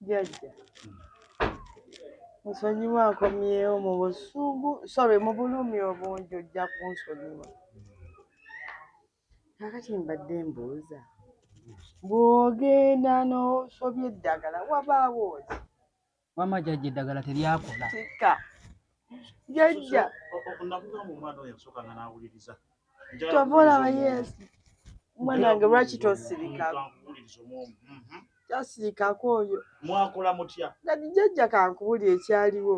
Jajja. Nsonyiwa nkomyewo mu busungu, sorry mu bulumi obungi ojja kunsonyiwa. Kakati mbadde mbuuza. Bw'ogenda n'osobya eddagala wabaawo ki? Wama jajja eddagala teryakola. Kika. jajja kyova olaba yesu mwanange lwaki tosirika mhm. tasirikako oyo mwakola mutya kati jajja kankubuli ekyaliwo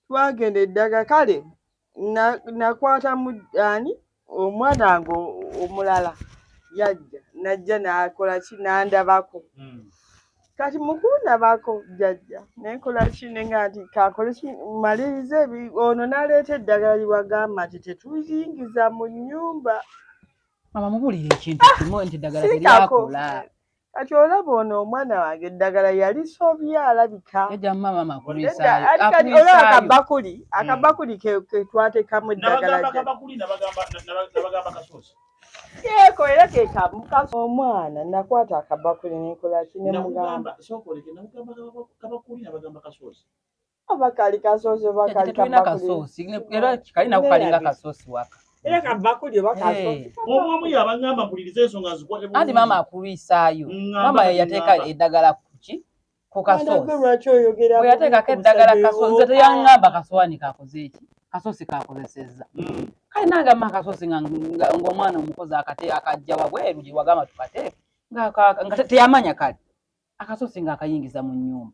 twagenda eddaga kale nakwata mu ani omwana nga omulala yajja najja nakola ki nandabako hmm. kati mukundabako jajja nenkola ki nenga nti kakole ki malirize ono naleeta eddagala liwagamba nti tetuyingiza mu nyumba mama mubulire ekintu kimu nti eddagala teryakola kati olaba ono omwana wange eddagala yalisobye alabika olaba kabakuli hmm. akabakuli ketwatekamu eddagalaeko era kekamu omwana nakwata akabakuli nenkolaki nemugamba Aba kali kasosi oba kali kabakuli. Era kali nako kalinga kasosi waka. Era kabakuli oba kasosi. Omu omu yabangamba mpuliriza ensonga zikwate. Andi maama akulwisaayo. Maama yateeka eddagala kuki? Ku kasosi. Bwe yateekako eddagala kasosi. Nze teyangamba kasowani kakoze eki? Kasosi kakozesezza. Mm. Kale nange amma kasosi ng'omwana omukozi akate akajja wabweru gye wagamba tukateeke. Nga teyamanya kale. Akasosi ng'akayingiza mu nnyumba.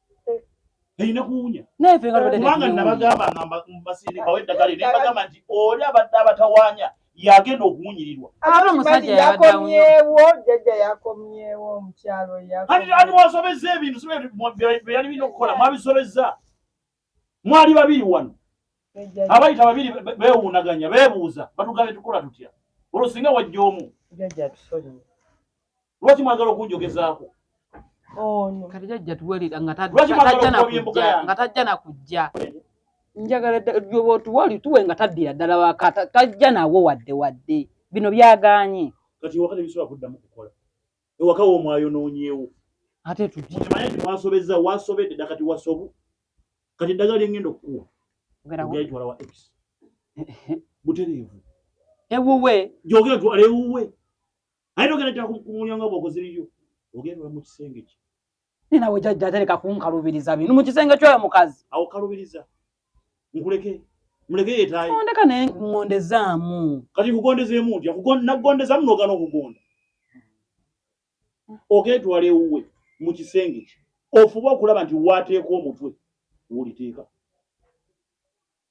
erina kuwunya kubanga nabagamba nga mbasirire bawe eddagala ne bagamba nti oli abadde abatawanya yagenda okuwunyirirwa yakomyewo jjajja yakomyewo omukyalo ani wasobezza ebintu bye yali birina okukola mwabisobezza mwali babiri wano abayita babiri bewuunaganya bebuuza batugambye tukola tutya olwo singa wajja omu lwaki mwagala okunjogezaako kati jajja tuwulira nga tajja nakujja njagala gyoba otuwali tuwe nga taddira ddala waka tajja nawo wadde wadde bino byaganye kati wakati bisobola kuddamu kukola ewaka wo mwayonoonyeewo ate tukimanye nti wasobezza wasobedde dda kati wasobu kati eddagala lyengenda okukuwa ogaitwala wa x butereevu ewuwe gyogera twala ewuwe aye nogenda tya kumulyango bwokoze liryo ogenda ola mu kisenge kye Ni nawe jajja atereka kunkalubiriza bino mu kisenge kyoyo mukazi. Awo kalubiriza. Nkuleke. Muleke yetaye. Ondeka naye ngondezaamu. Kati kugondezeemu ntya? Nakugondezamu n'ogaana okugonda. Ogeetwala ewuwe mu kisenge kye. Ofuba okulaba nti waateeka omutwe w'oliteeka.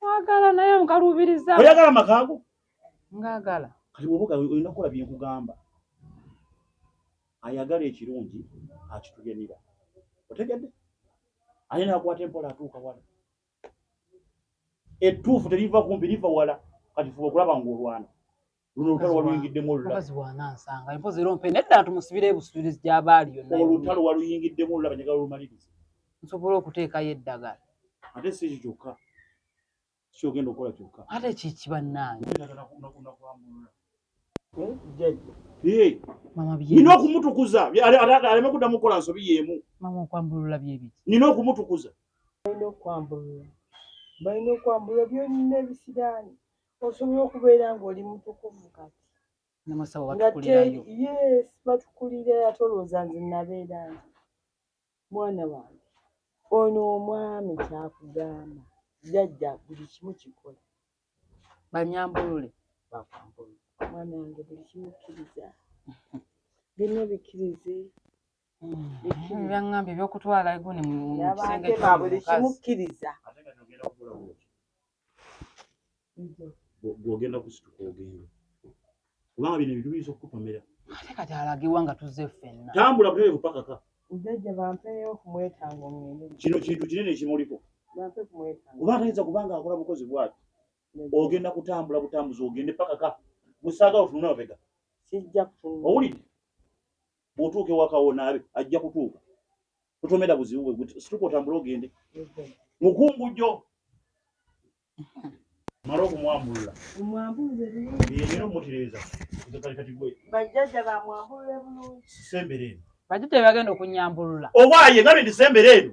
Mwagala naye nkaluubiriza. Oyagala amaka ago? Ngagala. Kati bw'oba olina kukola bye nkugamba. Ayagala ekirungi akitugenera. Otegedde? Ani n'akwata empola atuuka wala. Ettuufu teriva kumpi liva wala. Kati fuba okulaba ng'olwana. luno olutalo waluyingiddemu olulamukazi wanansanga empozi era ompe nedda tumusibire ebusubirizi gyabaali yonna olutalo waluyingiddemu olulaba njagala olumaliriza nsobola okuteekayo eddagala ate si ekyo kyokka kyogenda okukola kyokka ate kiki bannange nina okumutukuza aleme kuddamu kukola nsobi yeemu mama okwambulula byebiki nina okumutukuza balina okwambulula balina okwambulula byonna ebisiraani osobola okubeera ng'oli mutukuvu kati namasawo batukulirayo yes batukulira ate olowooza nze nabeera nti mwana wange ono omwami kyakugamba jajja buli kimu kikola banyambulule bakwambulule mwana wange buli kimu kkiriza bino bikkirize mm-hmm. byaŋŋambye ebyokutwala eguni mu kisenge kyabuli kimukkiriza gwogenda kusituka ogenda kubanga bino ebintu biyinza okukupamira ate kati alagiwa nga tuzze ffenna tambula buterevu pakaka jajja bampeeyo okumwetanga omwene kino kintu kinene ekimuliko bampe kumwetanga oba atayinza kubanga akola bukozi bwati ogenda kutambula butambuzi ogende pakaka musaaga otunula mabega kijja kutunula owulidde bwotuuka ewakawonaabe ajja kutuuka totomera buzibu bwe situka otambule ogende mukungujjo mala okumwambulula yeyina omutireeza bajjaja bamwambulule bulungi sembere eno bajjaja bebagenda okunyambulula owaye ngabe ndi sembere eno